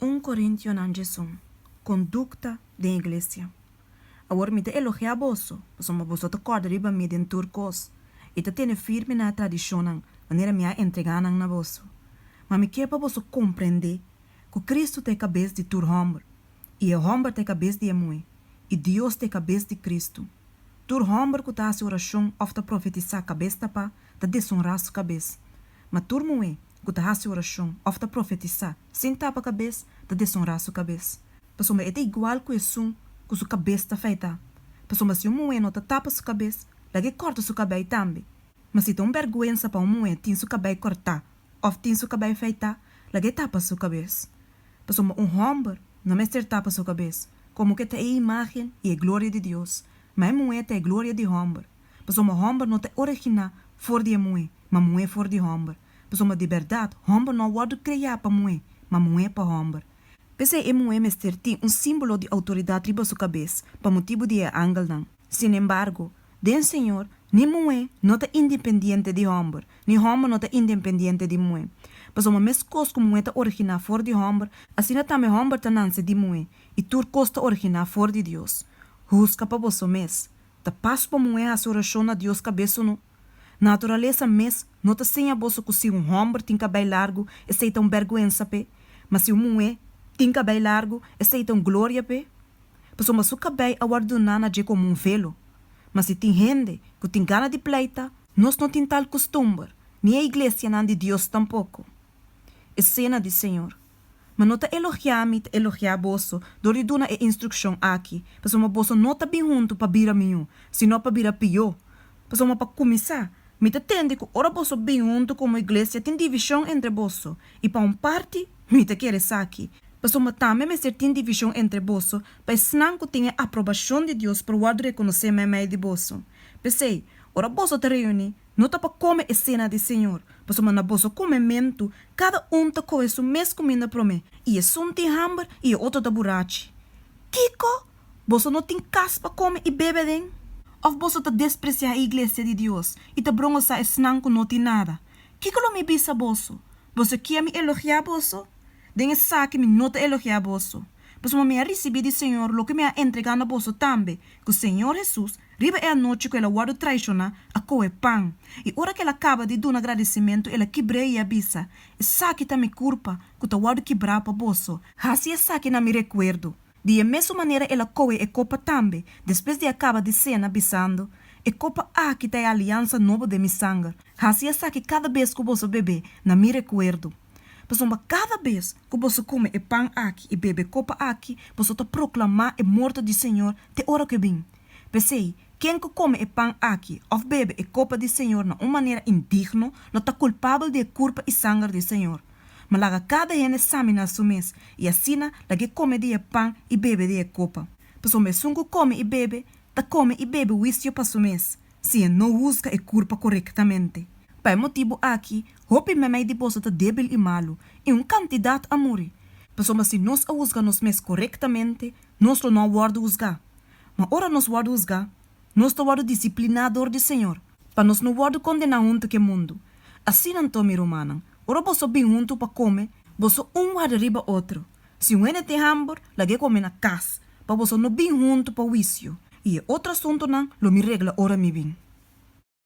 Un corintionan dje son. Conducta den iglesia. Awor mi ta elogia boso, pasobra boso ta corda riba mi den tur cos, i ta tene firme na e tradicionnan manera mi a entrega nan na boso. Ma mi kier pa boso comprende cu Cristo ta e cabes di tur homber, i e homber ta e cabes di e muhe, i Dios ta e cabes di Cristo. Tur homber cu ta haci oracion of ta profetisa cabes tapa ta deshonra su cabes, ma tur muhe ku ta hasi orashon òf ta profetisá sin tapa kabes ta desonrá su kabes, pasobra e ta igual ku esun ku su kabes ta afeitá. Pasobra si un muhé no ta tapa su kabes, laga e kòrta su kabei tambe. Ma si ta un bèrgwensa pa un muhé tin su kabei kòrtá òf tin su kabei afeitá, laga e tapa su kabes. Pasobra un hòmber no mester tapa su kabes, komo ku e ta e imágen i e gloria di Dios, ma e muhé ta e gloria di hòmber. Pasobra hòmber no ta originá for di e muhé, ma muhé for di hòmber. Pasobra di bèrdat, hòmber no a wòrdu kreá pa muhé, ma muhé pa hòmber. P'esei e muhé mester tin un símbolo di outoridat riba su kabes pa motibu di e angelnan. Sinembargo, den Señor, ni muhé no ta indenpendiente di hòmber, ni hòmber no ta indenpendiente di muhé. Pasobra meskos ku muhé ta originá for di hòmber, asina tambe hòmber ta nanse di muhé, i tur kos ta originá for di Dios. Huska pa boso mes, Ta pas pa muhé hasi orashon na Dios kabes o no? Naturalesa mes no ta siña boso ku si un hòmber tin kabei largu esei ta un bèrguensa p'e, ma si un muhé tin kabei largu esei ta un gloria p'e. Pasobra su kabei a wòrdu duná na dje komo un velo. Ma si tin hende ku tin gana di pleita, nos no tin tal kustumber, ni e iglesianan di Dios tampoko. Esena di Señor. Ma no ta elogiá mi, ta elogiá boso, dor di duna e instrukshon aki, pasobra boso no ta bin huntu pa bira mió, sino pa bira pió. Pasobra pa kuminsá, mi ta tende ku ora boso bin huntu komo iglesia tin divishon entre boso, i pa un parti mi ta kere esaki, pasobra tambe mester tin divishon entre boso pa esnan ku tin e aprobashon di Dios por wòrdu rekonosé meimei di boso. P'esei, ora boso ta reuní, No ta pa kome e sena di Señor, pasobra na boso kumementu kada un ta kohe su mes kuminda promé, i esun tin hamber i e otro ta burachi. Kiko? Boso no tin kas pa kome i bebe den? Òf boso ta despresiá e iglesia di Dios i ta brongosá esnan ku no tin nada? Kiko lo mi bisa boso? Boso kier mi elogiá boso? Den esaki mi no ta elogiá boso, pasobra mi a risibí di Señor loke mi a entregá na boso tambe, ku Señor Hesus Riba e anochi cu el a wordo traishona, a cohe pan, i ora cu el a caba di duna agradecimentu, el a kibr'e i a bisa, Esaki ta mi curpa, cu ta wordo kibra pa boso. Haci esaki na mi recuerdo. Di e mesun manera el a cohe e copa tambe, despues di a caba di cena, bisando, E copa aki ta e aliansa nobo den mi sanger. Haci esaki cada bes cu boso bebe, na mi recuerdo. Pasobra cada bes cu boso come e pan aki i bebe e copa aki, boso ta proclama e morto di Señor te ora cu e bin. P'esei, ken ku kome e pan akí òf bebe e kopa di Señor na un manera indigno, lo ta kulpabel di e kurpa i sanger di e Señor. Ma laga kada hende saminá su mes, i asina lag'é kome di e pan i bebe di e kopa. Pasobra esun ku kome i bebe, ta kome i bebe huisio pa su mes, sin e no husga e kurpa korektamente. Pa e motibu akí, hopi meimei di boso ta débil i malu, i un kantidat a muri. Pasobra si nos a husga nos mes korektamente, nos lo no a wòrdu husgá. Ma ora nos wòrdu husgá, nos ta wòrdu disipliná dor di Señor, pa nos no wòrdu kondená huntu k'e mundu. Asina anto, mi rumannan, ora boso bin huntu pa kome, boso un warda riba otro. Si un hende tin hambur, lag'é kome na kas, pa boso no bin huntu pa wisio. I e otro asuntunan lo mi regla ora mi bin.